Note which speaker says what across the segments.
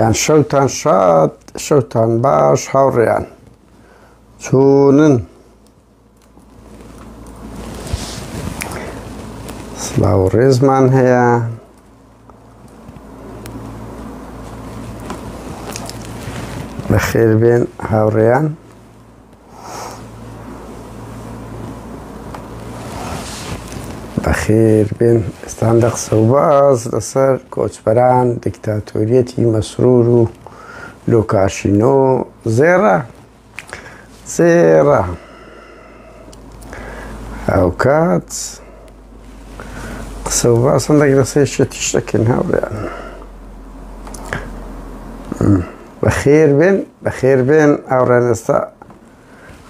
Speaker 1: یان شەوتان شاد شەوتان باش هاوڕێیان چۆنن سلااو ڕێزمان هەیە بەخێر بێن هاوڕێیان بەخێر بێن ئێستان دە قسە و باز لەسەر کۆچبەران دیکتاتۆریەتی مەسرور و لۆکاشینۆ زێڕە زێڕە هاوکات قسە و باسن دەک لە سێ شێتی شتەکەن هاوریان بەخێر بێن بەخێر بێن ئاوڕێن ئێستا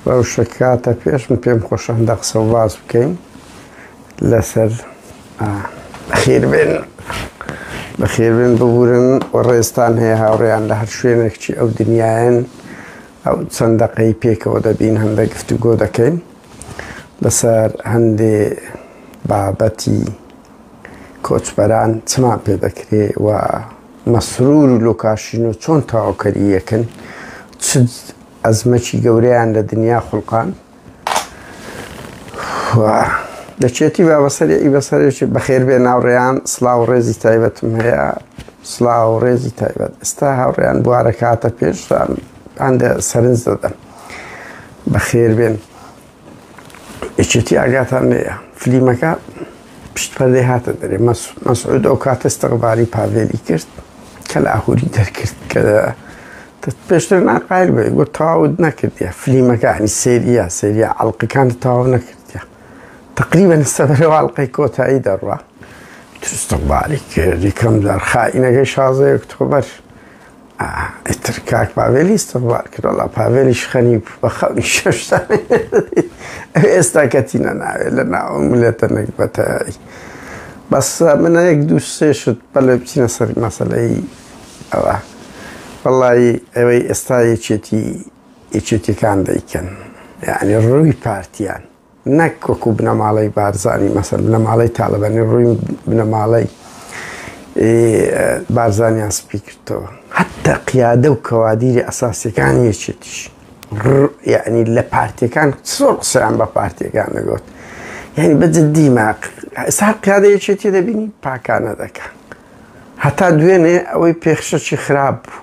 Speaker 1: بەو شکاتە پێش من پێم خۆشان دە قسە و باس بکەین لەسەر خێر بێن بەخێر بێن ببورن و ڕێستان هەیە هاوڕێیان لە هەر شوێنێکچی ئەو دنیاەن ئەو چەندەقەی پێکەوە دەبین هەندە گفتوگۆ دەکەین لەسەر هەندێ بابەتی کۆچبەران چمان پێ دەکرێ و مەسرور و لۆکاشینۆ چۆن تەواوکەری یەکن چ ئەزمەکی گەورەیان لە دنیا خولقان دەچێتی با بەسەری ئی بەسەرێکی بەخێر بێ ناوڕێیان سلااو ڕێزی تایبەتم هەیە سلااو ڕێزی تایبەت ئستا هاوڕێیان بوارە کاتە پێشتان هەندە سەرنج دەدەن بەخێر بێن یەکێتی ئاگاتان لێە فلیمەکە پشت پەردەی هاتە دەرێ مەسعود ئەو کاتە ستەقباری پاڤێلی کرد کە لە ئاهوری دەرکرد کە پێشتر ناقایل بێ گو تاوت نەکردە فلیمەکانی سریە سریە ئەڵلقەکان تاو نەکردە تقریبن سەبەرەوە ئەڵلقەی کۆتایی دەڕە تستەقباری کرد یکەم دار خائینەکەی شازەیە کتۆبەر ئیتر کاک پاڤێل ئیستغفار کرد وەڵا پاڤێلیش خەریب بە خەونی شەشتا ئێستا کەتی نەناوێ لە ناوە ملێتە نەگبەتایی بەس منە یەک دوو سێ شت بەلێ بچینە سەر مەسلەی ئەوە وەڵی ئەوەی ئێستا یەکێتی یەکێتیەکان دەیکەن یعنی ڕووی پارتیان نەک وەکو بنەماڵەی بارزانی مەسەن بنەماڵەی تاالبانی ڕووی بنەماڵەی بارزانیان سپی کردەوە حتا قیادە و کەوادیری ئەساسەکان یەکێتیش یعنی لە پارتەکان سۆر قسەیان بە پارتەکان نەگوت یعنی بە جددی ماق سار قیادە یەکێتی دەبینی پاکانە دەکە هەتا دوێنێ ئەوەی پێخشەکی خراپ بوو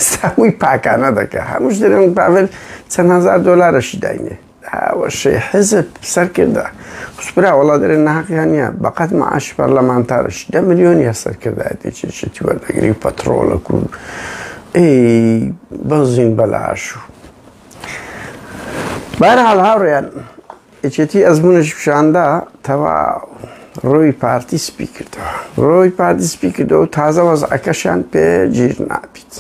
Speaker 1: ساوی پاکانە دەکە هەمووش دەێن باێت چەند هزار دلارەشی داینێ هاوشەی حیزب سەرکردە خس برا وەڵا دەرێ ناهەقیان نیە بەقەت معاشی پەرلەمانتارش دە ملیۆنیە سەرکردایەتی چی چیتی وەردەگری پەتڕۆڵە کو ئی بەنزین بەلاش و بەرحاڵ هاوڕێیان یەکێتی ئەزمونش پیشاندا تەوا ڕۆی پارتی سپی کردەوە ڕۆی پارتی سپی کردەوە تازە وەزعەکەشان پێ گیر نابیت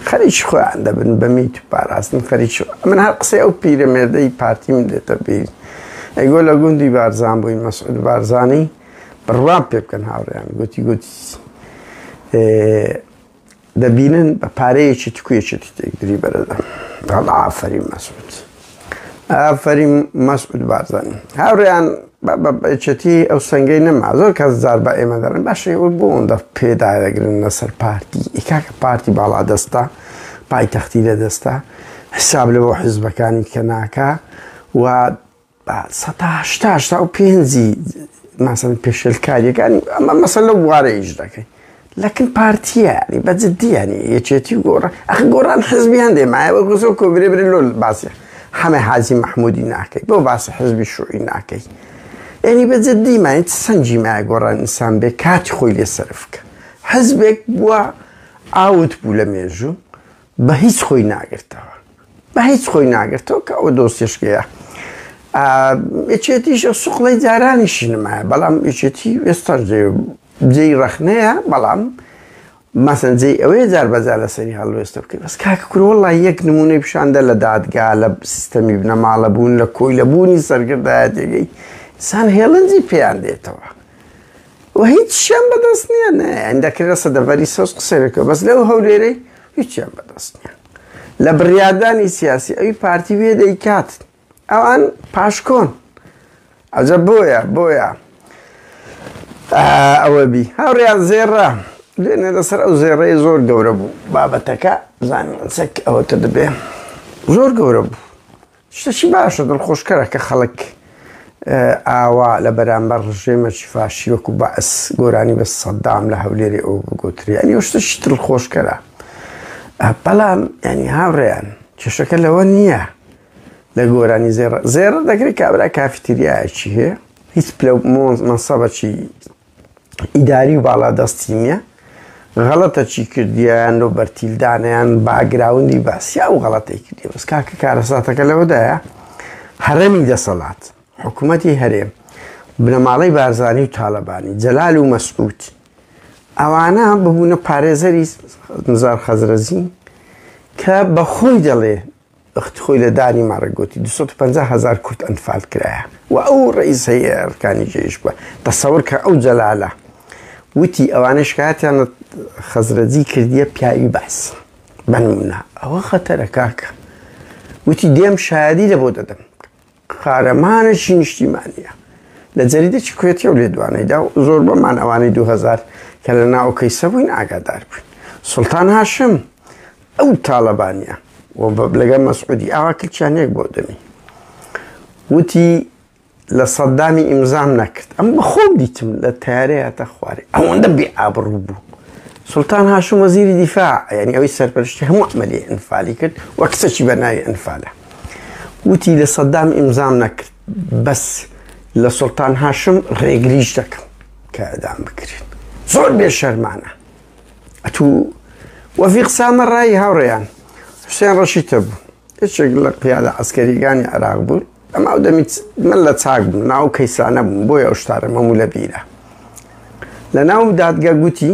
Speaker 1: خەریکی خۆیان دەبن بە میت و پاراستن خەریکی خۆ من هەر قسەی ئەو پیرەمێردەی پارتیم دێتە بیر ئەی گۆ لە گوندی بارزان بووی مەسعود بارزانی بڕوام پێ بکەن هاوڕیان گوتی گوتی دەبینن بە پارەیەکی تکوێکی تێکدری بەرەدەم داڵ ئافەری مەسعود ئافەریم مەسعود بارزانی هاوڕێیان بە بەچەتی ئەو سنگەی نەما زۆر کەس زار بە ئێمە دەڵێن باشە ئەوە بۆ ئەوەندە پێدا دەگرن لەسەر پارتی ئیکاکە پارتی باڵا دەستە پایتەختی لە دەستە حساب لە بۆ حیزبەکانی کە ناکە و سەهشتا و پێنجی ماسن پێشلکاریەکانی ئەمە مەسە لە بوارە ئیش دەکەین لە کن پارتیە یانی بە جدی یانی یەکێتی و گۆڕان ئەخ گۆڕان حزبی هەندێ مایە وەک زۆر کۆگرێ برێ لۆ باسی حەمە حاجی محمودی ناکەی بۆ باسی حزبی شوعی ناکەی یعنی بە جدی مایە چ سەنجی مایە گۆڕان ئینسان بێ کاتی خۆی لێ سەرف بکە حزبێک بووە ئاوت بوو لە مێژوو بە هیچ خۆی ناگرتەوە بە هیچ خۆی ناگرتەوە کە ئەو دۆستێشکەیە یەکێتیش سوقڵی جارانیشی نمایە بەڵام یەکێتی وێستان جێی ڕەخنەیە بەڵام مەسەن جێی ئەوەیە جار بەجار لەسەری هەڵوێستە بکەین بەس کاکە کورە وەڵڵا یەک نموونەی پیشاندە لە دادگا لە سیستەمی بنەماڵە بوون لە کۆی لە بوونی سەرگردایەتێگەی سان هێڵنجی پێیان دێتەوە و هیچ شیان بەدەست نییە نە ئەندەکرێ لە سەدەڤەری سەوز قسەێکەوە بەس لەو هەولێرەی هیچیان بەدەست نییە لە بڕیاردانی سیاسی ئەوی پارتی وێ دەیکات ئەوان پاشکۆن ئەجە بۆیە بۆیە ئەوە بی هاوڕیان زێڕە دوێنێ لەسەر ئەو زێڕەیە زۆر گەورە بوو بابەتەکە زانین چەک ئەوەتە دەبێ زۆر گەورە بوو شتەشی باشە دڵخۆشکەرە کە خەڵک ئاوا لە بەرامبەر ڕژێمەکی فاشی وەکو بەس گۆرانی بە سەددام لە هەولێری ئەو بگوتری ئەنی شتە شتل خۆشکەرە بەڵام ینی هاوڕێیان کێشەکە لەوە نییە لە گۆرانی زێڕ زێڕ دەکرێت کابرا کافیتریایەکی هەیە هیچ پلە مۆنز مەسەبەکی ئیداری و باڵا دەستی نییە غەڵەتە چی کردیان لۆ بەرتیلدانیان باگراوندی باسیا و غەڵەتی کردی بەس کاکە کارەساتەکە لەوەدایە هەرەمی دەسەڵات حکوومەتی هەرێم بنەماڵەی بارزانانی و تاالبانی جەلال و مەسکووت ئەوانە ببوونە پارێزەری نزار خەزرەزین کە بەخۆی دەڵێ ئخت خۆی لە دانی مەڕگ گۆتی دوو سەد و پەنجا هەزار کورد ئەنفال کرایە و ئەو ڕئیسەی ئەرکانی جەیش بووە تەسەور کە ئەو جەلالە وتی ئەوانەی شکایەتیان لە خەزرەجی کردیە پیاوی بەعس بە نمونە ئەوە خەتەرە کاکە وتی دێم شایەدی لە بۆ دەدەم قارەمانێکی نیشتیمانیە لە جەریدێکی کوێتی و لێدوانەیدا و زۆر بەمان ئەوانی 2000 کە لە ناو کەیسە بووین ئاگادار بووین سلتان هاشم ئەو تاالبانە و لەگە مەسعودی ئاوا کلچیان یەک بۆ دەمی وتی لە سەددامی ئیمزام نەکرد ئەم بەخۆم دیتم لە تارەیە تا خوارێ ئەوەندە بێ ئابڕوو بوو سلتان هاشم وەزیری دیفاع یعنی ئەوی سەرپەرشتی هەموو عملی ئەنفالی کرد وە کچەکی بە ناوی ئەنفالە وتی لە سەدام ئیمزام نەکرد بەس لە سوڵتان هاشم ڕێگریش دەکەم کە ئەدام بکرێت زۆر بێ شەرمانە ئەتوو وەفیق سامە ڕای هاوڕێیان حوسێن ڕەشیتە بوو هیچێک لە قیادە ئەسکەریگانی عراق بوو ئەما و دەمیت من لە چاک بوو ناو کەیسانە بووم بۆی ئەو شتارە مەموو لە بیرە لە ناو دادگە گوتی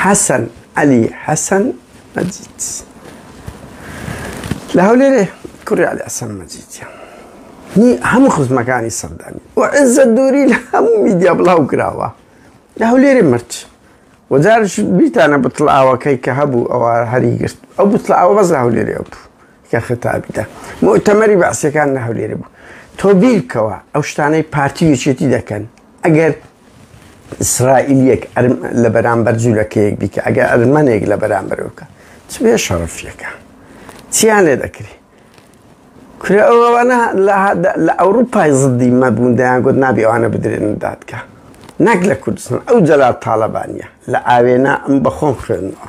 Speaker 1: حەسەن عەلی حەسەن مەجید لە هەولێرێ کوڕی عەلی حەسەن مەجیدە هی هەموو خزمەکانی سەردانی و عزە دووری لە هەموو میدیا بڵاو کراوە لە هەولێری مرد وەجارش بیتانە بتڵاوەکەی کە هەبوو ئەوە هەری گرت ئەو بتڵاوە بەس لە هەولێری ئەو بوو کە خەتابیدا مۆتەمەری بەعسەکان لە هەولێری بوو تۆ بیرکەوە ئەو شتانەی پارتی وچێتی دەکەن ئەگەر ئیسرائیلیەک لە بەرامبەر جوولەکەیەک بیکە ئەگەر ئەرمەنێک لە بەرامبەر بکە چ بێ شەڕفیەکە چیان لێ دەکری کورە ئەوانە لە ئەوروپای زدی مەبوون دەیان گوت نابی ئەوانە بدرێن دادکە نەک لە کوردستان ئەو جەلا تاالبانە لە ئاوێنە ئەم بەخۆم خوێنەوە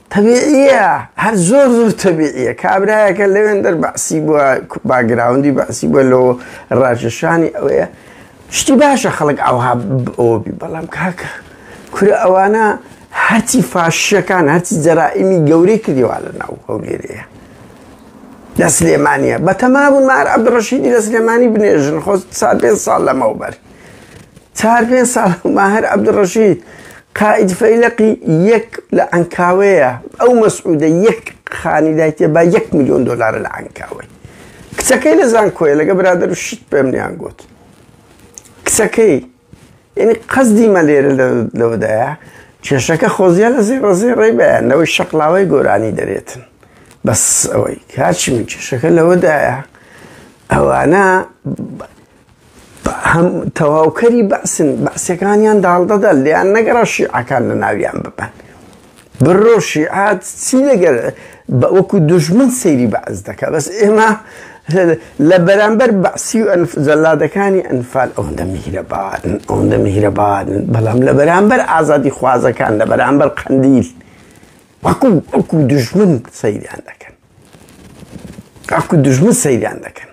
Speaker 1: تەبیعیە هەر زۆر زۆر تەبیعیە کابرایەکە لەوێندەر بەعسی بووە باگراوندی بەعسی بووە لەوە ڕاژەشانی ئەوەیە شتی باشە خەڵک ئەوها ئەوبی بەڵام کاکە کورە ئەوانە هەرچی فاشەکان هەرچی جەرائیمی گەورەی کردیوا لە ناو هەولێرەیە لە سلێمانە بە تەمابوون مار عبدڕەشیدی لە سلێمانی بنێژن خۆ سا پێ ساڵ لەمەوبەر چار پێنج ساڵ ماهر عەبدولڕەشید قائد فەیلەقی یەک لە عەنکاوەیە ئەو مەسعودە یەک خانی دایتێ با یەک میلیۆن دۆلارە لە عەنکاوەی کچەکەی لە زانکۆیە لەگە برادر و شت پێم نیان گوت کچەکەی یعنی قەزدی مە لێرە لەوەدایە کێشەکە خۆزیە لە زی ڕزی ڕێ بەیان لەوەی شەقلاوەی گۆرانی دەرێتن بەس ئەوەی کاچی من کێشەکە لەوەدایە ئەوانە هەم تەواوکەری بەعسن بەعسیەکانیان داڵدەدا لیان نەگەڕا شیعەکان لە ناویان ببەن بڕۆ شیعات چی لەگەر بە وەکو دژمن سەیری بەعس دەکە بەس ئێمە لە بەرامبەر بەعسی و جەلادەکانی ئەنفال ئەوەندە میهرەبارن ئەوەندە میهرەبارن بەڵام لە بەرامبەر ئازادی خوازەکان لە بەرامبەر قەندیل وەکو وەکو دژمن سەیریان دەکەن وەکو دژمن سەیریان دەکەن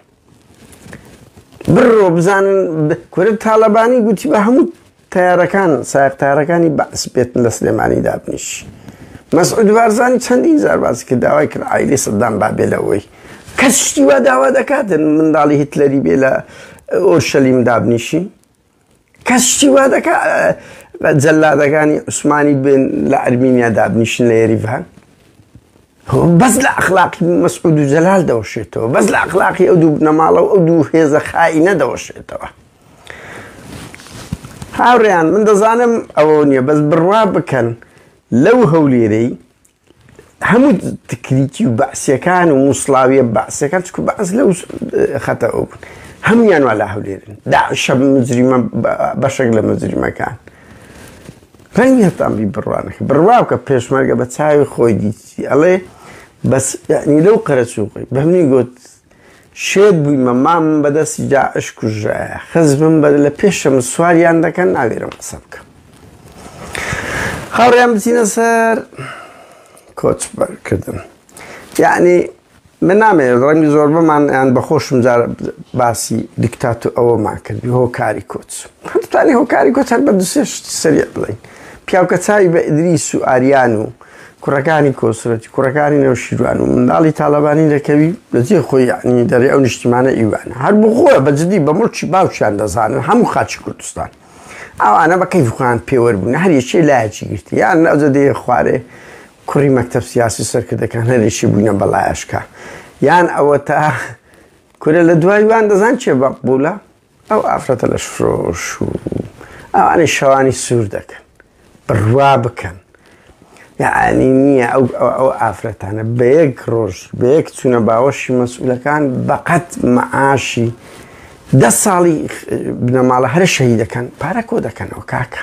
Speaker 1: بڕۆ بزانن کورە تاالبانی گوتی بە هەموو تارەکان ساختارەکانی بەعس بێتن لە سلێمانی دابنیش مەسعود بارزانانی چەندین زار باسی کرد داوای کرد ئایلی سەدام بابێ لەوەی کەس شتی وا داوا دەکاتن منداڵی هیتلەری بێ لە ئۆرشەلیم دابنیشی کەس شتی وا دەکا جەلادەکانی عوسمانی بێن لە ئەرمینیا دابنیشن لە یریڤان بەس لە ئەخلاقی مەسعود و جەلال دەوەشێتەوە بەس لە ئەخلاقی ئەو دوو نەماڵە و ئەو دوو هێزە خایی نەدەوەشێتەوە هاوڕیان من دەزانم ئەوە نییە بەس بڕوا بکەن لەو هەولێرەی هەموو تکریتی و بەعسیەکان و موسڵاویە بەعسیەکان چکو بەعس لەو خەتە ئەو بوون هەمویان وا لا هەولێرن داعشە مجریمە بەشێک لە مجریمەکان ڕەنگی هەتان بی بڕوانەکە بڕواکە پێشمەرگە بە چاوی خۆی دیتی ئەڵێ بەس لەو قەرەچووقی بەمنی گوت شێت بویمە مامم بەدەستی داعش کوژرایە خزمم بە لە پێشم سواریان دەکەن ناوێرم قسە بکەم هاوڕیان بچینە سەر کۆچ بەرکردن یعنی من نامێ ڕەنگی زۆر بەمان یان بەخۆشم جار باسی دیکتات و ئەوەمان کردی هۆکاری کۆچ هەتانی هۆکاری کۆچ هەر بە دوسێ شتی سەریع بڵین پیاوکە چاوی بە ئیدریس و ئاریان و کوڕەکانی کۆسرەتی کوڕەکانی نەوشیروان و منداڵی تاالبانی دەکەوی لەجێ خۆی یعنی دەری ئەو نیشتیمانە ئیوان هەر بخۆە بەجددی بە مڵکی باوچیان دەزانن هەموو خاچی کوردستان ئەوانە بە کەیفخوان پێوەەر بوون هەریەکێ لایەکی گرتی یان ئەوجە دێ خوارێ کوڕی مەکتب سیاسی سەرکردەکان هەرێکی بووینە بەڵایشکە یان ئەوە تا کورە لە دوایوان دەزان چێ بە بوولە ئەو ئافرەتە لەش فرۆش و ئەوانەی شەوانی سوور دەکەن بڕوا بکەن یعنی نییە ئەو ئەو ئافرەتانە بە یەک ڕۆژ بە یەک چوونە باوەشی مەسئولەکان بەقەت مەعاشی دە ساڵی بنەماڵە هەرە شەهی دەکەن پارە کۆ دەکەنەوە کاکە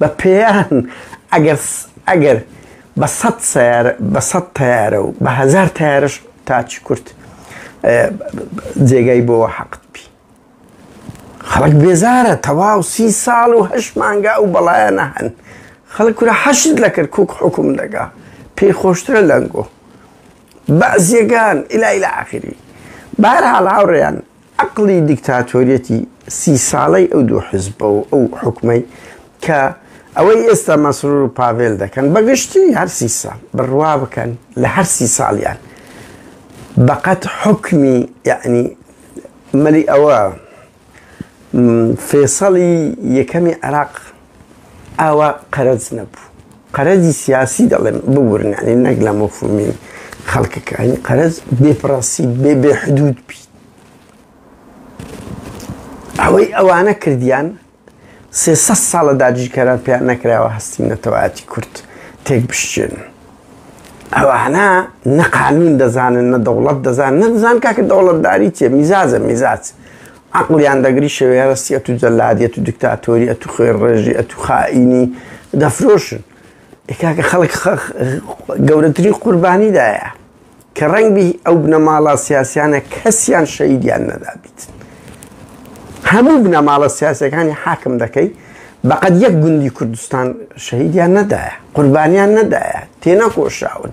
Speaker 1: بە پێیان ئەگەر ئەگەر بە سەد سەیارە بە سەد تەیارە و بە هەزار تەیارش تاچی کورت جێگای بۆ حەقت بی خەڵک بێزارە تەواو سی ساڵ و هەش مانگا و بەڵایەنە هەن خەڵک کورە حەشت لە کرد کوک حکوم دەگا پێی خۆشترە لەنگۆ بەزیەکان ئیلای لە ئاخری بارحاڵ هاوڕێیان عەقڵی دیکتاتۆریەتی سی ساڵەی ئەو دوو حزبە و ئەو حوکمەی کە ئەوەی ئێستا مەسرور و پاڤێل دەکەن بە گشتی هەر سی ساڵ بڕوا بکەن لە هەر سی ساڵیان بەقەت حوکمی یعنی مەلی ئەوە فێسەڵی یەکەمی عێراق ئاوا قەرەج نەبوو. قەرەجی سیاسی دەڵێم ببورن یانی نەک لە مەفهومی خەڵکەکە یانی قەرەج بێ پڕەنسیب بێ بێ حدود بی. ئەوەی ئەوانە کردیان سێ سەد ساڵە داگیرکەران پێیان نەکراوە هەستی نەتەوایەتی کورد تێک بشکێن. ئەوانە نە قانون دەزانن نە دەوڵەت دەزان نەدەزان کاکە دەوڵەتداری چێ میزاجە میزاج. عەقڵیان دەگری شەوێرەستی ئەتوو جەلادی ئەتوو دکتاتۆری ئەتوو خوێر ڕێژی ئەتوو خائینی دەفرۆشن ئێکاکە خەڵک گەورەترین قوربانیدایە کە ڕەنگبی ئەو بنەماڵا سیاسیانە کەسیان شەیدیان نەدابیت هەموو بنەماڵە سیاسەکانی حاکم دەکەی بەقەت یەک گوندی کوردستان شەهیدیان نەدایە قوربانیان نەدایە تێنەکۆشاون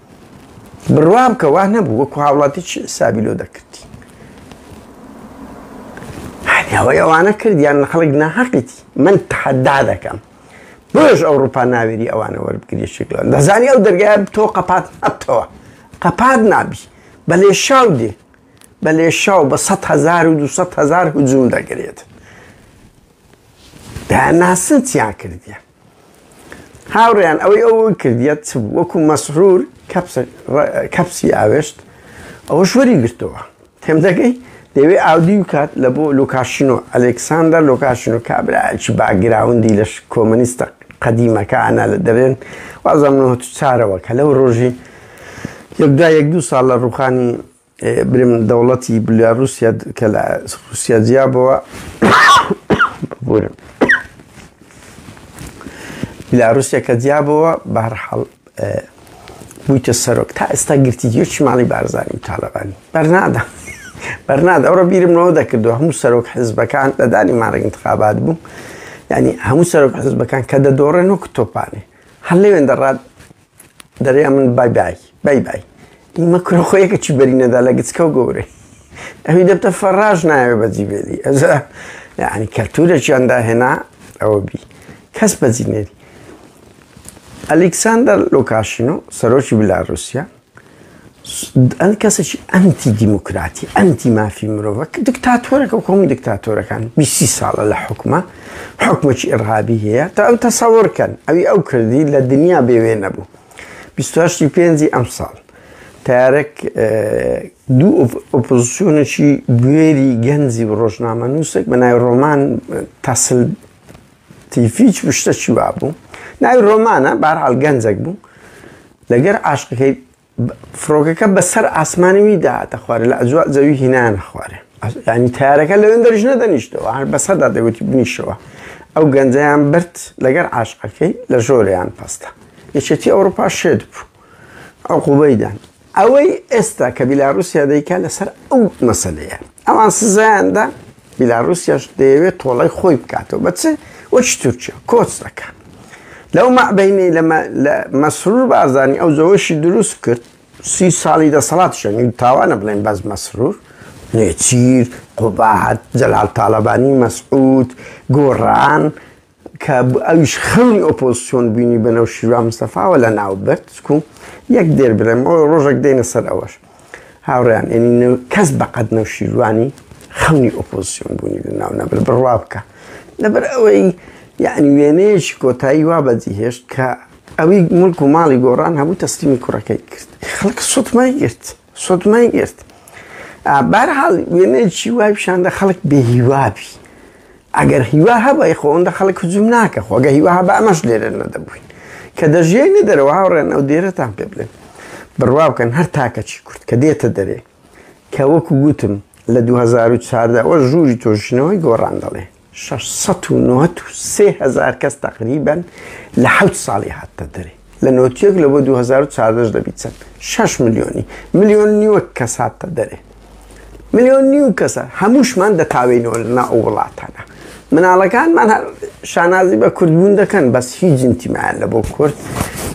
Speaker 1: بڕوام کە وا نەبوو وەکو هاوڵاتی چی حسابی لۆ دەکردی ئەوەی ئەوانە کردیان لە خەڵک ناحەقیتی من تحدا دەکەم بۆش ئەوروپا ناوێری ئەوانە وەربگری شکلان دەزانی ئەو دەرگای تۆ قەپات ئەتەوە قەپات نابی بە لێ شاو دێ بە لێ شاو بە 100 هزار و 200 هزار هجووم دەگرێت داناسن چیان کردیان هاوڕێیان ئەوەی ئەو کردیە چ بوو وەکو مەسرور کەپسی ئاوێشت ئەوەش وەری گرتەوە تێم دەگەی دەوێ ئاودی و کات لە بۆ لوکاشینۆ ئەلکساندەر لوکاشینۆ کابراایکی باگراوندی لەش کۆمەنیستە قەدیمەکانە لە دەرێن وازم چارەوە کە لەو ڕۆژی یەکدا یەک دوو ساڵ لە ڕوخانی برم دەوڵەتی بلیا روسیا کە لە روسیا جیا بووە ببورم بلا روسیا کە جیا بووە بەرحەڵ بوویتە سەرۆک تا ئێستا گرتی یەکی ماڵی بارزانانی و تاالبانی بەرنادا بەرناد ئەوڕە بیرمەوە دەکردو هەموو سەرۆک حزبەکان لەدانی مارەگ انتخابات بوو ینی هەموو سەرۆک حزبەکان کە دەدۆڕێن وەک تۆپانێ هەر لەوێن دەڕات دەرێ ئەمن بای بای بای بای ئیمە کورە خۆیەکە چی بەری نەدا لە گچکە و گەورەی ئەوی دەبتە فەڕاش نایە بەجی بێلی ئەزا یعنی کەلتورێکیان داهێنا ئەوە بی کەس بەجی نێری ئەلیکساندەر لۆکاشینۆ سەرۆکی بلاروسیا ئەن کەسەکی ئەنتی دیموکراتی ئەنتی مافی مرۆڤە کە دکتاتۆرەکە و کۆمی دکتاتۆرەکان بیسی ساڵە لە حکومە حکومەکی ئڕابی هەیە تا ئەو تەسەورکەن ئەوی ئەو کردی لە دنیا بێوێ نەبوو بیستاشتی پێنجی ئەم ساڵ تارێک دوو ئۆپۆزیسیۆنێکی گوێری گەنجی و ڕۆژنامە نووسێک بە نای ڕۆمان تاسل تیفیچ بشتەکی وابوو ناوی ڕۆمانە بارحال گەنجەک بوو لەگەر عاشقەکەی فڕۆکەکە بەسەر ئاسمانەوی داهاتە خوارە لە ئەجوا زەوی هینان خوارێ ینی تارەکە لەوێن دەریش نەدەنیشتەوە هەر بەسەدا دەگوتی بنیشەوە ئەو گەنجیان برد لەگەر عاشقەکەی لە ژۆریان پەستە یەکێتی ئەوروپا شێت بوو ئەو قوبەیدان ئەوەی ئێستا کە بیلاروسیا دەیکا لەسەر ئەو مەسەلەیە ئەوان سزایاندا بیلاروسیاش دەیەوێت تۆڵای خۆی بکاتەوە بەچ وەچ تورکیا کۆچ دەکە لەو مەعبینەی لە مەسرور بارزانانی ئەو زەوەشی دروست کرد سی ساڵی دەسەڵات شەنی تاوانە بڵێن بەس مەسرور نێچیر قوبات جەلال تاالبانی مەسعود گۆڕان کە ئەویش خەونی ئۆپۆزسیۆن بینی بە نەو شیوا مستەفاوە لە ناو برد و یەک دێر برێم ئەو ڕۆژێک دێنە سەر ئەوەش هاوڕیان ئەنی کەس بەقەت نەو شیروانی خەونی ئۆپۆزیسیۆن بوونی لە ناو نەبر بڕوا بکە لەبەر ئەوەی یعنی وێنەیەکی کۆتایی وا بەجی هێشت کە ئەوی ملک و ماڵی گۆڕان هەبوو تەسلیمی کوڕەکەی کرد خەڵک سوتمای گرت سوتمای گرت بارحاڵ وێنەیەکی وای پیشاندە خەڵک بێهیوابی ئەگەر هیوا هەبای خۆ ئەوەندە خەڵک هجوم ناکە خۆ ئەگەر هیوا هەبا ئەمەش لێرە نەدەبووین کە دەژیاینە دەرەوە هاوڕێن ئەو دێرەتان پێ بڵێن بڕوا بکەن هەر تاکەچی کورد کە دێتە دەرێ کە وەکو گوتم لە 2014 ئەوە ژووری تۆژنەوەی گۆڕان دەڵێ 693 هزار کەس تقریبن لە حوت ساڵی هاتە دەرێ لە نۆتیەک لە بۆ 2014 دەبیت چەند شش ملیۆنی ملیۆن نیوە کەس هاتە دەرێ ملیۆن نیو کەسە هەمووشمان دەتاوێنەوە لەنا ئەو وڵاتانە مناڵەکانمان شانازی بە کوردبوون دەکەن بەس هیچ جنتیمایان لە بۆ کورد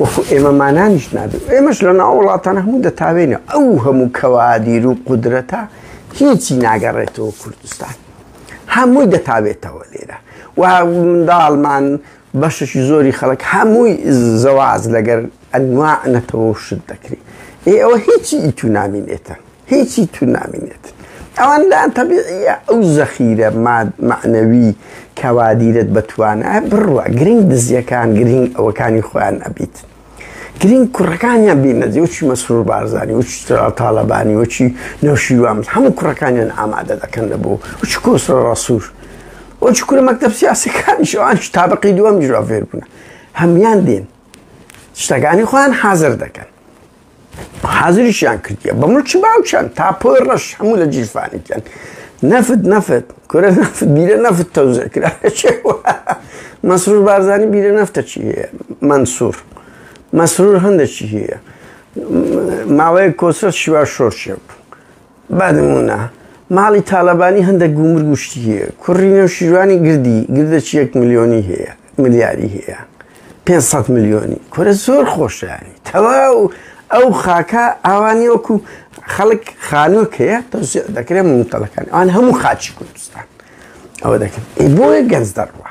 Speaker 1: وەکو ئێمەمانانیش نابێت ئێمەش لە ناو وڵاتانە هەموو دەتاوێنە ئەو هەموو کەوادیر و قدرەتە هیچی ناگەڕێتەوە کوردستان هەمووی دەتاوێتەوە لێرە و منداڵمان بەشەکی زۆری خەڵک هەمووی زەواج لەگەر ئەنواع نەتەوە و شت دەکری ئێ ئەوە هیچی ئیتو نامینێتە هیچی تو نامینێت ئەوان لایان تەبیعیە ئەو زەخیرە ماد معنەوی کەوا دیرت بەتوانە بڕوە گرنگ دزیەکان گرنگ ئەوەکانی خۆیان ئەبیت گرنگ کوڕەکانیان بیمەزی وچی مەسرور بارزانانی وچ تاالبانی وچی نەوشیوان هەموو کوڕەکانیان ئامادە دەکەن لە بۆ وچ کۆسرە ڕسوور وچ کورە مەکتب سیاسەکانی شوان تابقی دووەم جوافێر بوون هەمان دێن شتەکانی خۆیان حازر دەکەن حازریشیان کردیە بە ملکی باوکیان تا پۆی ڕەش هەموو لە جیرفانیان نەفت نەفت کورە نەفت بیرە نەفت تەوزە کرا مەسرور بارزانانی بیرە نەفتە چی هەیە منسوور مەسرور هەندێکی هەیە ماوەیە کۆسە شیوا شۆرشێ بوو بە نموونە ماڵی تاڵەبانی هەندەک گوومرگ و شتی هەیە کوڕی نەوشیروانی گردی گردەچی یەک ملیۆنی هەیە ملیاری هەیە 500 ملیۆنی کورە زۆر خۆشیانی تەواو ئەو خاکە ئاوانی وەکو خەڵک خانووک هەیە تەوسێ دەکرێت منتەڵەکان ئەوان هەموو خاچی کوردستان ئەوە دەکرد بۆیە گەنج دەڕوە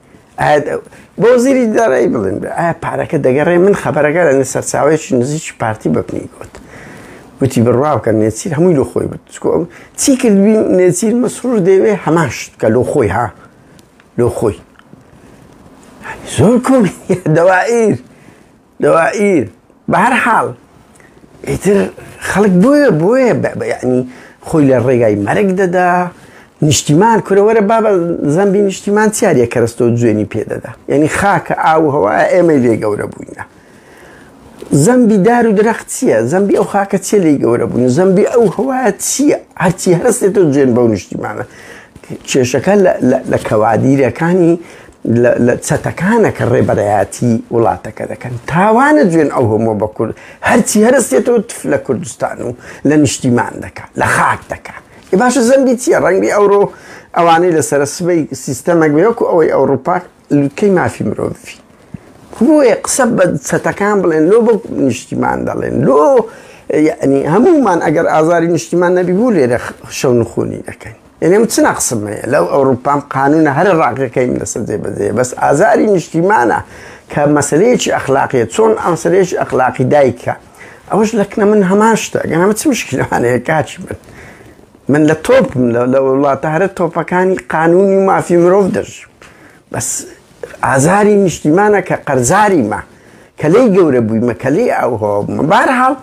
Speaker 1: بۆ وەزیری دارایی بڵێن ئایا پارەکە دەگەڕێ من خەبەرەکە لە سەرچاوێکی نزیکی پارتی بەپنی گوت گوتی بڕوا بکە نێچیر هەمووی لە خۆی بوت چی کردبی نێچیر مەسرور دەوێ هەماشت کە لۆ خۆی ها لۆ خۆی زۆر کۆمی دەوائیر دوائیر بەهەر حاڵ ئیتر خەڵک بۆیە بۆیە بەعنی خۆی لە ڕێگای مەرگ دەدا نیشتیمان کورەوەرە بابە زەمبی نیشتیمان چیارە کەرەستۆ جوێنی پێدەدا یعنی خاکە ئاو هەوا ئێمەی لێ گەورە بووینە زەمبی دار و درەخت چییە زەمبی ئەو خاکە چێ لی گەورە بوون زەمبی ئەو هەوایە چییە هەرچی هەستێت و جوێن بەو نیشتیمانە کێشەکە لە کەوادیرەکانی لە چەتەکانە کە ڕێبەرایەتی وڵاتەکە دەکەن تاوانە جوێن ئەو هەموە بە کورد هەرچی هەرستێتەوە تف لە کوردستان و لە نیشتیمان دەکە لە خاک دەکە ئێ باشە زەمبی چییە ڕەنگبی ئەوڕۆ ئەوانەی لەسەر سبەی سیستەمەک بێوەکو ئەوەی ئەوروپا لوتکەی مافی مرۆڤی بۆیە قسە بە چەتەکان بڵێن لۆ بۆ نیشتیمان دەڵێن لۆ یعنی هەمومان ئەگەر ئازاری نیشتیمان نەبی بوو لێرە شەو نخونی دەکەین یەنی من چ نەقسم هەیە لەو ئەوروپام قانونە هەر ڕاقەکەی من لەسەر جێ بەجێ بەس ئازاری نیشتیمانە کە مەسلەیەکی ئەخلاقیە چۆن ئەمسەرێکی ئەخلاقی دایکە ئەوش لەکنە من هەمان شتە گەنەمە چ مشکلانەیە کاچی من من لە تۆپ لە وڵاتە هەرە تۆپەکانی قانونی مافی مرۆڤ دەژیم بەس ئازاری نیشتیمانە کە قەرزاری مە کە لێی گەورە بووی مەکەلی ئەو هۆبمە بارحاڵ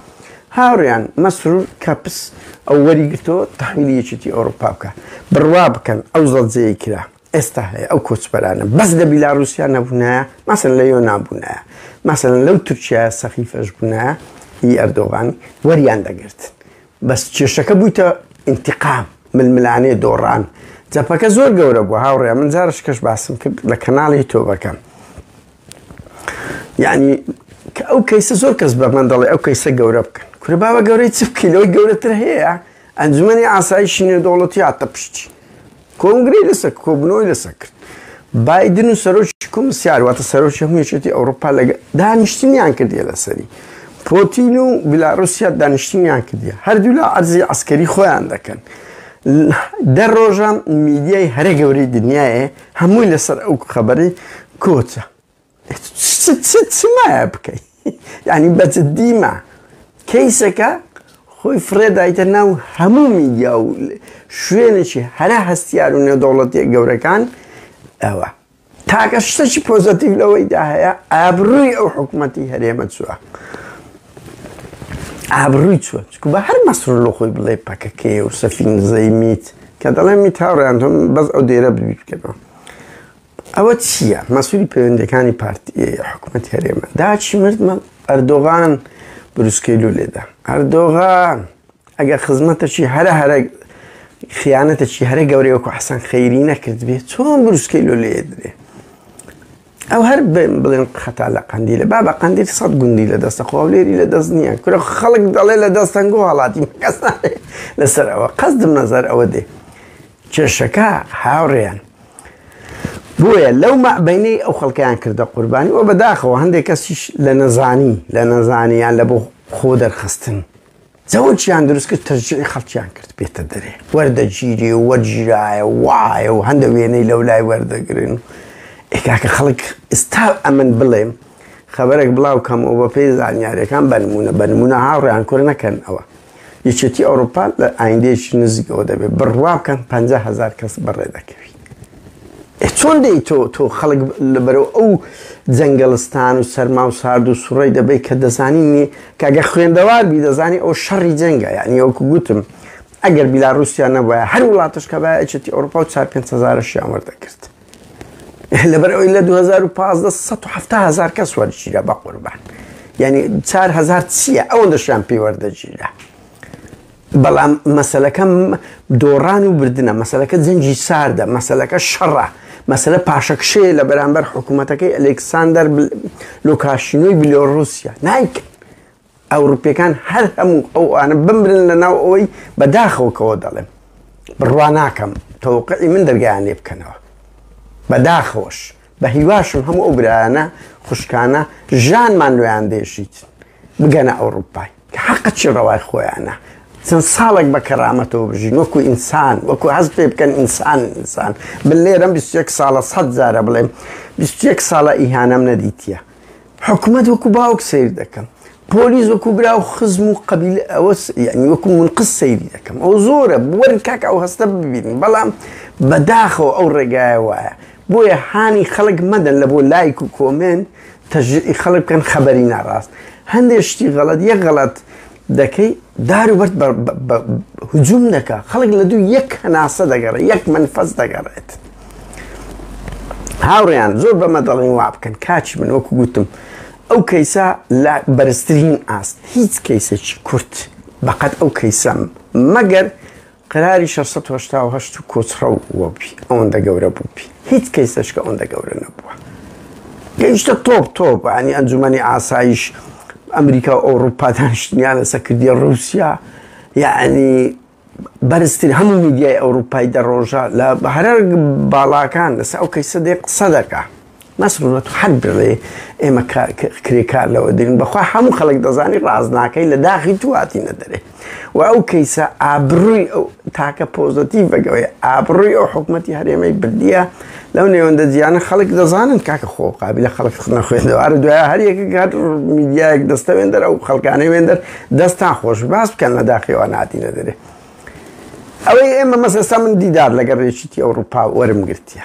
Speaker 1: هاوریان مەسرور کەپس ئەو وەری گرتەوە تحویلی یەکێتی ئەوروپا بکە بڕوا بکەن ئەو زەڵجەیە کرا ئێستا هەیە ئەو کۆچبەرانە بەس لە بیلاروسیا نەبوونایە مەسن لە یۆ نابوونایە مەسن لەو تورکیا سەخیفەش بوونایە هی ئەردۆغانی وەریان دەگرتن بەس کێشەکە بویتە ئینتیقام ململانێ دۆڕان جەپەکە زۆر گەورە بوو هاوڕێ من جارش کەش باسم کرد لە کەناڵی تۆبەکەم یعنی کە ئەو کەیسە زۆر کەس بە من دەڵێ ئەو کەیسە گەورە بکەن کورە باوە گەورەی چ بکەیلەوەی گەورەتر هەیە ئەنجومەنی ئاسایشی نێودەوڵەتی هاتە پشتی کۆنگرەی لەسەر کۆبنەوەی لەسەر کرد بادن و سەرۆکی کۆمسیار واتە سەرۆکی هەموو یەکێتی ئەوروپا لە دانیشتنیان کردیە لەسەری پۆتین و بلاروسیا دانیشتنیان کردیە هەردوولا ئەرزی ئەسکەری خۆیان دەکەن دە ڕۆژە میدیای هەرە گەورەی دنیاە هەمووی لەسەر ئەو خەبەری کۆچە چمایە بکەی یانی بەجددی ما کەیسەکە خۆی فڕێدایتە ناو هەموو میدیا و شوێنێکی هەرە هەستیار و نێودەوڵەتیە گەورەکان ئەوە تاکە شتەکی پۆزەتیو لەوەیدا هەیە ئابرووی ئەو حکوومەتی هەرێمە چووە ئابرووی چوە چکو بە هەر مەسرور لە خۆی بڵێ پەکەکەی و سەفین زەیمیت کە دەڵێ میتاڕیان تۆم بەس ئەو دێرە ببیکەەوە ئەوە چییە مەسولی پەیوەندەکانی پارت حکوومەت هەرێمە داچی مردمە ئەردۆغان بروسکەی لو لێدا ئەردۆغان ئەگە خزمەتەشی هەرە هەرە خیانەتەشی هەرە گەورەی وەکو حەسەن خەیری نەکرد بێ چۆن بروسکەی لو لێ درێ ئەو هەر بڵێن خەتا لە قندی لە بابە قندی سەد گوندی لە دەستە خۆڵێری لە دەست نییە کورە خەڵک دەڵێ لە دەستەنگۆ هەڵاتی کەس لەسەر ئەوە قەزدم نەزار ئەوە دێ کێشەکە هاوڕێیان بۆیە لەو مەعبەینەی ئەو خەڵکیان کردە قوربانی و بەداخەوە هەندێک کەسیش لە نەزانی لە نەزانیان لە بۆ خۆ دەرخستن زەوەچیان دروست کرد تەرجی خەڵکیان کرد بێتە دەرێ وەردەگیری و وەرگیرایە وایە و هەندە وێنەی لەو لای وەردەگرن ئێکاکە خەڵک ئستا ئەمن بڵێم خبرێک بڵاو کەمەوە بە پێی زانیارەکان بەنمونە بەنمونە هاوڕیان کورد نەکەن ئەوە یەکێتی ئەوروپا لە ئایندەیەکی نزیکەوە دەبێت بڕوا بکەن پ هزار کەس بەڕێ دەکەویت چۆن دەی تۆ تۆ خەڵک لەبەرەوە ئەو جەنگەڵستان و سەرما و سارد و سوڕی دەبێت کە دەزانینی کاگە خوێندەوار بی دەزانی ئەو شەڕی جەنگە یعنی ئەوکو گوتم ئەگەر بیلا رووسیا نەبە هەر وڵاتش کە بەچێتی ئەوروپا و چار پێ هزارشیان وەردەکرد لەبەر ئەوی لە 2015 سەد و حەفتا هەزار کەس وەرگیرا بە قوربان یعنی چار هەزار چییە ئەوەن دەشیان پێی وەردەگیرا بەڵام مەسلەکەم دۆڕان و بردنە مەسلەکە جەنجی ساردە مەسلەکە شەڕە مەسلە پاشەکشەیە لە بەرامبەر حکوومەتەکەی ئەلکساندەر لۆکاشینۆی بلۆڕوسیا نایکە ئەوڕوپیەکان هەر هەموو ئەوانە بمرن لەناو ئەوەی بە داخەوە کەوە دەڵێم بڕوا ناکەم تەوقعی من دەرگایان لێ بکەنەوە بە داخەوەش بە هیواشم هەموو ئەو برایانە خوشکانە ژانمان لۆیان دێشیت بگەنە ئەوروپای کە حەقە چی ڕەوای خۆیانە چەند ساڵێک بە کەرامەتەوە بژین وەکو ئینسان وەکو هەست پێ بکەن ئینسان ئینسان بلێرم 21 ساڵە سەد جارە بڵێم 21 ساڵە ئیهانەم نەدیتە حکومەت وەکو باوک سەیر دەکەم پۆلیس وەکو برا و خزم و قەبیلە ئەوە یعنی وەکو منقس سەیری دەکەم ئەو زۆرە وەرن کاکە ئەو هەستە ببینین بەڵام بەداخەوە ئەو ڕێگایە وایە بۆیە هانی خەڵک مەدەن لە بۆ لایک و کۆمێنت تەژیعی خەڵک بکەن خەبەری ناڕاست هەندێک شتی غەڵەت یەک غەڵەت دەکەی دار و بەرد بە بە هجوم دەکا خەڵک لە دوو یەک هەناسە دەگەڕێ یەک منفەس دەگەڕێت هاوڕیان زۆر بەمە دەڵێن وا بکەن کاچی من وەکو گوتم ئەو کەیسە لە بەرزترین ئاست هیچ کەیسێکی کورت بەقەت ئەو کەیسەم مەگەر قەراری شەش سەد و هەشتا و هەشت کۆچڕەو بووەبی ئەوەندە گەورە بووبی هیچ کەیسەشکە ئەوەندە گەورە نەبووە گەیشتە تۆپ تۆپ عنی ئەنجومی ئاسایش ئەمریکا و ئەوروپا دانیشتنیان لەسە کردیە رووسیا یعنی بەرزتر هەموو میدیای ئەوروپای دەڕۆژە لە هەرە باڵاکان لەسە ئەو کەیسە دێ قسە دەکە نەسرو نەتو حەک دەڵێ ئێمە کرێکار لەوە دەین بەخوا هەموو خەڵک دەزانی ڕاست ناکەی لە داخی تو هاتینە دەرێ و ئەو کەیسە ئابڕووی ئەو تاکە پۆزەتی بەگەوەی ئابڕووی ئەو حکوومەتتی هەرێمەی بردیە لەو نێوەندە جیانە خەڵک دەزانن کاکە خۆ قابل لە خەڵک خنە خوێندەوارە دوای هەریەکە گات میدیایەک دەستە وێندەر ئەو خەڵکانەی وێندەر دەستان خۆش باس بکەن لە داخیوان هاتینە دەرێ ئەوەی ئێمە مەسەستا من دیدار لەگەڕێشتی ئەوروپا وەرم گرتیە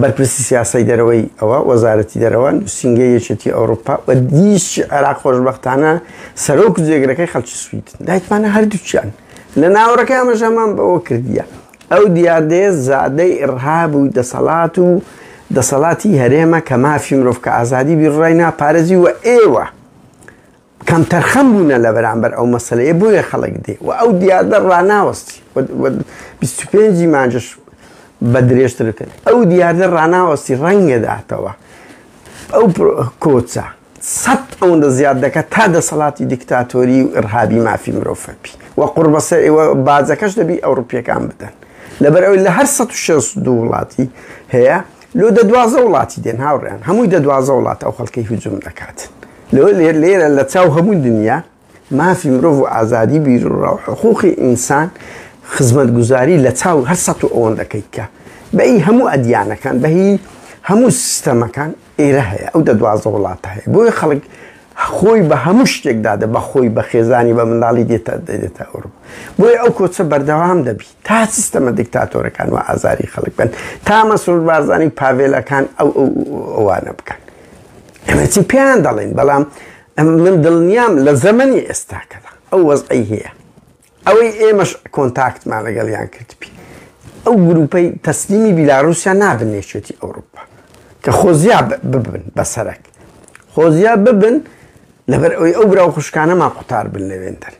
Speaker 1: بەرپرسی سیاسەی دەرەوەی ئەوە وەزارەتی دەرەوە نووسینگەی یەکێتی ئەوروپا و دیشی عێراق خۆشببختانە سەرۆک جێگرەکەی خەڵکی سویدن دایتمانە هەردووچیان لە ناوەڕەکە ئەمەژەمان بەوە کردیە ئەو دیاردەیە زادەی ئڕهاب و دەسەڵات و دەسەڵاتی هەرێمە کە مافی مرۆڤ کە ئازادی بیڕای ناپارێزی و ئێوە کەمتەرخەم بوونە لە بەرامبەر ئەو مەسەلەیە بۆیە خەڵک دێ و ئەو دیاردە ڕناوەستی 25 مانجش بە درێژتر بکەن ئەو دیاردە ڕناوەستی ڕەنگەداتەوە ئەو کۆچە سەد ئەوەندە زیاد دەکات تا دەسەڵاتی دیکتاتۆری و ئرهابی مافی مرۆڤەپی و قڕبەسە ئێوە بازەکەش دەبی ئەوروپیەکان بدەن لەبەر ئەوی لە هەر 16 دوو وڵاتی هەیە لۆ دە دوازدە وڵاتی دێن هاوڕێیان هەمووی دە دوازدە وڵات ئەو خەڵکەی هجوم دەکات لۆ لێر لێرە لە چاو هەموو دنیا مافی مرۆڤ و ئازادی بیر و ڕاو حقوقی ئینسان خزمەت گوزاری لە چاو هەر سە و ئەوەن دەکەیت کە بەی هەموو ئەدیانەکان بەهی هەموو سیستەمەکان ئێرە هەیە ئەو دە دوازدە وڵات هەیە بۆیە خەڵک خۆی بە هەموو شتێکدادە بە خۆی بە خێزانی بە منداڵی دێتە دێتە ئەوروپا بۆیە ئەو کۆچە بەردەوام دەبیت تا سیستەمە دیکتاتۆرەکان وا ئازاری خەڵک بن تا مەسرور بارزانی و پاڤێلەکان ئەو ئەوانە بکەن ئەمە چی پێیان دەڵێن بەڵام من دڵنیام لە زەمەنی ئێستاکەدا ئەو وەزعی هەیە ئەوەی ئێمەش کۆنتاکتمان لەگەڵیان کردبی ئەو گروپەی تەسلیمی بیلاروسیان نابن نێشێتی ئەوروپا کە خۆزیا ببن بەسەرک خۆزیا ببن لەبەر ئەوی ئەو برا و خوشکانەمان قوتار بن لەوێندەر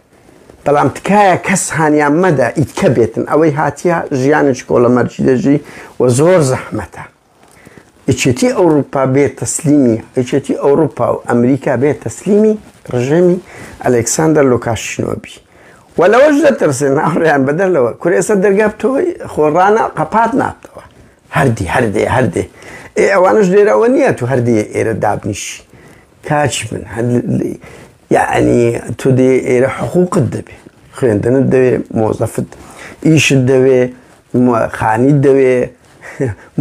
Speaker 1: بەڵام تکایە کەس هانیان مەدە ئیتکە بێتن ئەوەی هاتیە ژیانێکی کۆڵە مەرجی دەژی و زۆر زەحمەتە یەکێتی ئەوروپا بێت تەسلیمی یەکێتی ئەوروپا و ئەمریکا بێت تەسلیمی ڕژێمی ئەلکساندەر لۆکاشنۆبی و لەوەش دەترسێن ناڕیان بەدەر لەوە کورێسە دەرگا تۆی خۆڕانە قەپات نابتەوە هەردی هەردێ هەردێ ئێ ئەوانش لێرەوە نییە تو هەردێ ئێرە دابنیشی کاچی من یعنی تۆ دێ ئێرە حقوقت دەبێ خوێندنت دەوێ مۆزەفت ئیشت دەوێ خانی دەوێ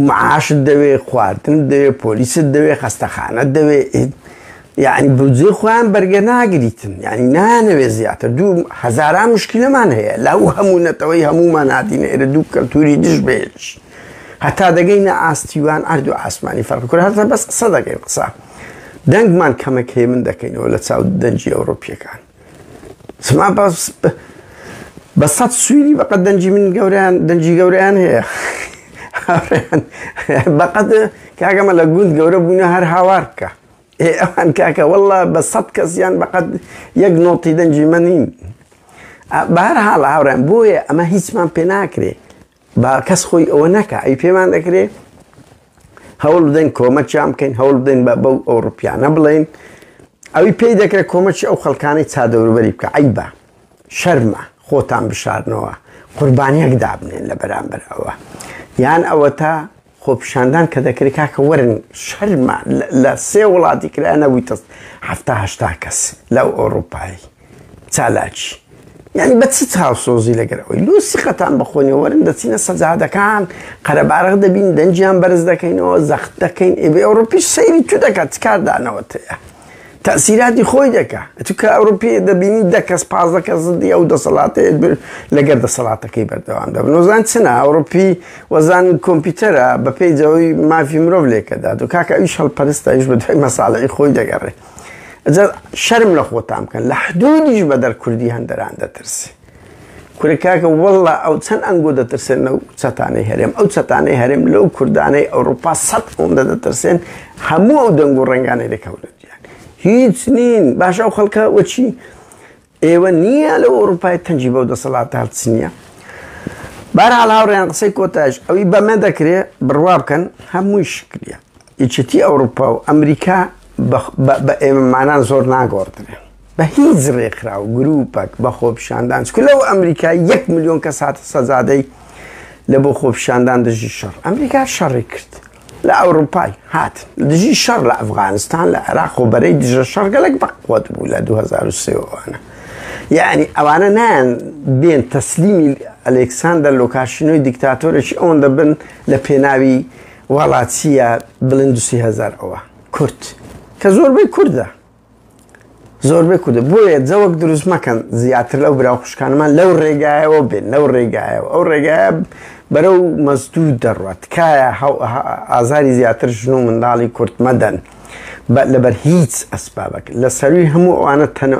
Speaker 1: معاشت دەوێ خواردن دەوێ پۆلیست دەوێ خەستەخانە دەوێ یعنی بجێ خۆیان بەرگە ناگریتن یعنی نانەوێ زیاتر دوو هزاران مشکلەمان هەیە لەو هەموو نەتەوەی هەمومان هاتینە ئێرە دوو کەلتوری دژ بێش هەتا دەگەینە ئاستیوان ئەردو ئاسمانی فەرق کورد هەتا بەس قسە دەکەین قسە دەنگمان کەمێک هێمن دەکەینەوە لە چاو دەنجی ئەوروپیەکان سما باس بە سەد سووری بەقەت دەنجی من گەوریان دەنجی گەوریان هەیە بەقەت کاگەمە لە گوند گەورە بوونە هەر هاوار بکە ئێ ئەوان کاکە والله بە سەد کەسیان بەقەت یەک نۆتی دەنجی منین بە هەر حاڵ هاوڕێن بۆیە ئەمە هیچمان پێ ناکرێ با کەس خۆی ئەوە نەکە ئەی پێمان دەکرێت هەوڵ بدەین کۆمەکیان بکەین هەوڵ بدەین بە بەو ئەوروپیانە بڵێن ئەوی پێی دەکرێت کۆمەکی ئەو خەڵکانی چادەوروبەری بکە عیبە شەرمە خۆتان بشارنەوە قوربانیەک دابنێن لە بەرامبەر ئەوە یان ئەوە تا خۆپیشاندان کە دەکرێت کاکە وەرن شەرمە لە سێ وڵاتی کرا نەبووی تەست هەهشتا کەس لەو ئۆروپایی چالاکی یعنی بە چ چاوسۆزی لەگەر ئەوی لوسی خەتان بەخۆنی وەرن دەچینە سەجادەکان قەرەبارەق دەبین دەنجیان بەرز دەکەینەوە زەخت دەکەین ئێ ئەوروپی سەیری تو دەکات کاردانەوە تەیە تەئسیراتی خۆی دەکا ئەتو کە ئەوروپیە دەبینی دە کەس پازدە کەس زدی ئەو دەسەڵاتەیەت بر لەگەر دەسەڵاتەکەی بەردەوام دەبن وەزان چنە ئەوروپی وەزان کۆمپیوتەرە بەپێی جەوەی مافی مرۆڤ لێکەدا دو کاکە ئەویش هەڵپەرستە ئەویش بە دوای مەساڵەی خۆی دەگەڕێ ئەجا شەرم لە خۆتان بکەن لە حدودیش بە دەر کوردی هەندەران دەترسێ کورە کاکە وەڵا ئەو چەند ئەنگۆ دەترسێن لەو چەتانەی هەرێم ئەو چەتانەی هەرێم لەو کوردانەی ئەوروپا سەد ئەوەندە دەترسێن هەموو ئەو دەنگ و ڕنگانەی دەکەونە جیان هیچ نین باشە ئەو خەڵکە وەچی ئێوە نییە لە ئەوروپای تەنجی بەو دەسەڵات هەڵچ نییە بارحاڵ هاوڕێیان قسەی کۆتاش ئەوی بەمە دەکرێت بڕوا بکەن هەمووی شکریە یەکێتی ئەوڕوپا و ئەمریکا بە ئێمەمانان زۆر ناگۆڕدرێن بە هیچ ڕێکخرا و گروپەک بە خۆپیشاندان چکە لەو ئەمریکا یەک ملیۆن کەس هاتە سەزادەی لە بۆ خۆپیشاندان دژی شەڕ ئەمریکا شەڕی کرد لە ئەوروپای هات دژی شەڕ لە ئەفغانستان لە عێراق و بەرەی دژە شەڕگەلێک بەقوت بوو لە 2023وانە یعنی ئەوانە نایەن بێن تەسلیمی ئەلکساندەر لۆکاشینۆی دیکتاتۆرێکی ئەوەن دەبن لە پێناوی واڵا چیە بڵێن دوسی هەزار ئەوە کورد کە زۆربەی کوردە زۆربەی کوردە بۆیە جەوەک دروست مەکەن زیاتر لەو برا خوشکانمان لەو ڕێگایەوە بێن لەو ڕێگایەوە ئەو ڕێگایە بەرەو مەزدوو دەڕوات تکایە ئازاری زیاتر ژن و منداڵی کورت مەدەن لەبەر هیچ ئەسبابک لە سەروی هەموو ئەوانە تەن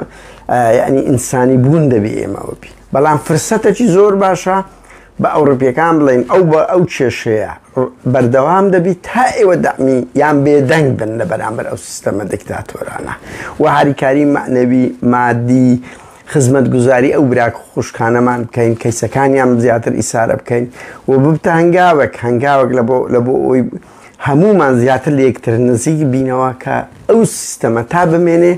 Speaker 1: ینی ئینسانی بوون دەبی ئێمەوە بی بەڵام فرسەتەکی زۆر باشە با ئەوڕپیەکان بڵێن ئەو بە ئەو کێشەیە بەردەوام دەبیت تا ئێوە دەمی یان بێدەنگ بن لە بەرامبەر ئەو سیستەمە دکتاتۆرانە و هاریکاری مەعنەوی مادی خزمەت گوزاری ئەو براک خوشکانەمان بکەین کەیسەکانیان زیاتر ئیسارە بکەین و ببتە هەنگاوێک هەنگاوێک لە بۆ لە بۆ ئەوی هەمومان زیاتر لە یەکتر نزیک بینەوە کە ئەو سیستەمە تا بمێنێ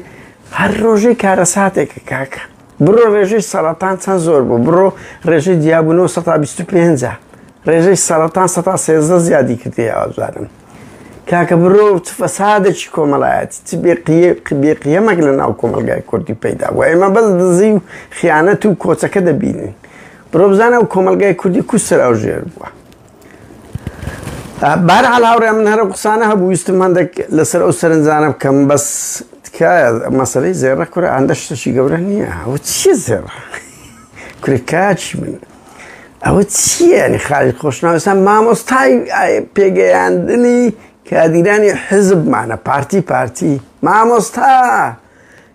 Speaker 1: هەر ڕۆژەی کارەساتێکە کاکە بڕۆ ڕێژەی سەرەتان چەند زۆر بوو بڕۆ ڕێژەی دیابوونەوە 125 ڕێژەی سەرەتان 113 زیادی کردی ئازارم کاکە بڕۆ چ فەسادێکی کۆمەڵایەتی چ بێ قیەمەک لە ناو کۆمەلگای کوردی پەیدا و ئێمە بەس دزی و خیانەت و کۆچەکە دەبینین بڕۆ بزانە و کۆمەلگای کوردی کوسرا و ژێر بووە بەهەرحاڵ هاوڕێیان من هەرم قسانە هەبوو ویستم هەندێک لەسەر ئەو سەرنجانە بکەم بەس تکایە مەسەلەی زێڕە کورە هەندە شتەشی گەورە نییە ئەوە چییە زێڕە کورە کاچی من ئەوە چییەنی خالی خۆشناوسان مامۆستای پێگەیاندنی کادیرانی حزبمانە پارتی پارتی مامۆستا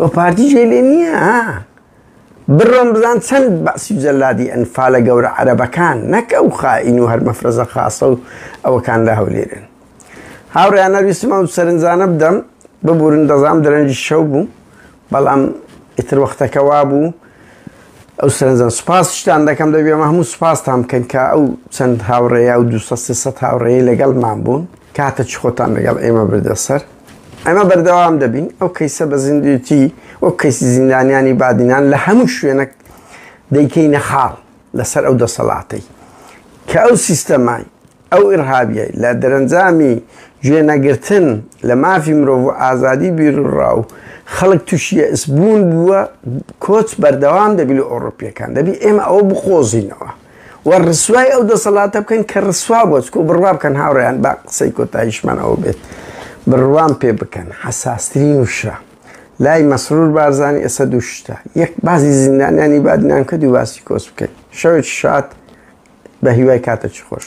Speaker 1: و پارتی جێ لێ نییە ها بڕۆم بزان چەند بەعسی و جەلادی ئەنفالە گەورە عەرەبەکان نەک ئەو خائین و هەر مەفرەزە خاصە و ئەوەکان لە هەولێرن هاوڕێیان نەویستم ئەو سەرنجانە بدەم ببورن دەزام درەنجی شەو بوو بەڵام ئیتر وەختەکە وا بوو ئەو سەرنجان سوپاس شتان دەکەم دەبێ ئەمە هەموو سوپاستان بکەن کە ئەو چەند هاوڕێیا و دو سە سێ سەد هاوڕێی لەگەڵمان بوون کاتە چ خۆتان لەگەڵ ئێمە بردە سەر ئێمە بەردەوام دەبین ئەو کەیسە بە زیندوێتی وەک کەیسی زیندانیانی بادینان لە هەموو شوێنەک دەیکەینە خاڵ لەسەر ئەو دەسەڵاتەی کە ئەو سیستەمای ئەو ئرهابیە لە دەرەنجامی گوێنەگرتن لە مافی مرۆڤ و ئازادی بیرڕا و خەڵک تووشیە ئسبوون بووە کۆچ بەردەوام دەبی لە ئۆڕۆپیەکان دەبی ئێمە ئەوە بقۆزینەوە و ڕسوای ئەو دەسەڵاتە بکەن کە ڕسوا بووە، چکۆ بڕوا بکەن هاوڕێیان با قسەی کۆتاییشمان ئەوە بێت بڕوام پێ بکەن حەساسترین وشە لای مەسرور بارزانی ئێستا دوو شتە یەک باسی زیندانیانی بادنان کە دوو باسی کۆس بکەین شەوێکی شاد بە هیوای کاتەکی خۆش